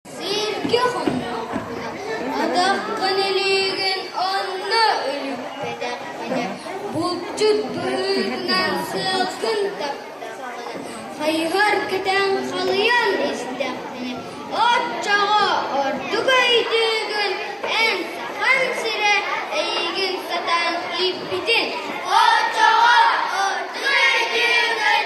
Сииргэ хоммоккун, атаххын илиигин онно үлүппэтэххинэ, булчут быһыытынан сыалгын таптаҕын, хайыһар кэтээн халыйан истэххинэ, оччоҕо ордук өйдүүгүн, эн сахан сирэ эйигин сатаан киирбитин, оччоҕо ордук өйдүүгүн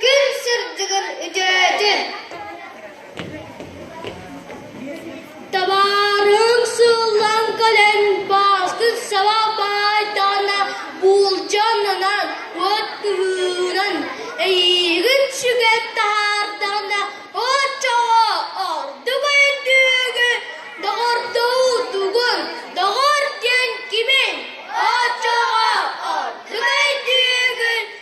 Күн сырдыгын үтөөтүн, табаарыҥ сыллан кэлэн бааскын саба баайтаҕына буулдьа аннынан от кыһыыран, эйиигин сүгэн таһаардаҕына оччоҕо ордук өйдүүгү, доҕордуу тугун, доҕор диэн кимин, оччоҕо ордук өйдүүгүн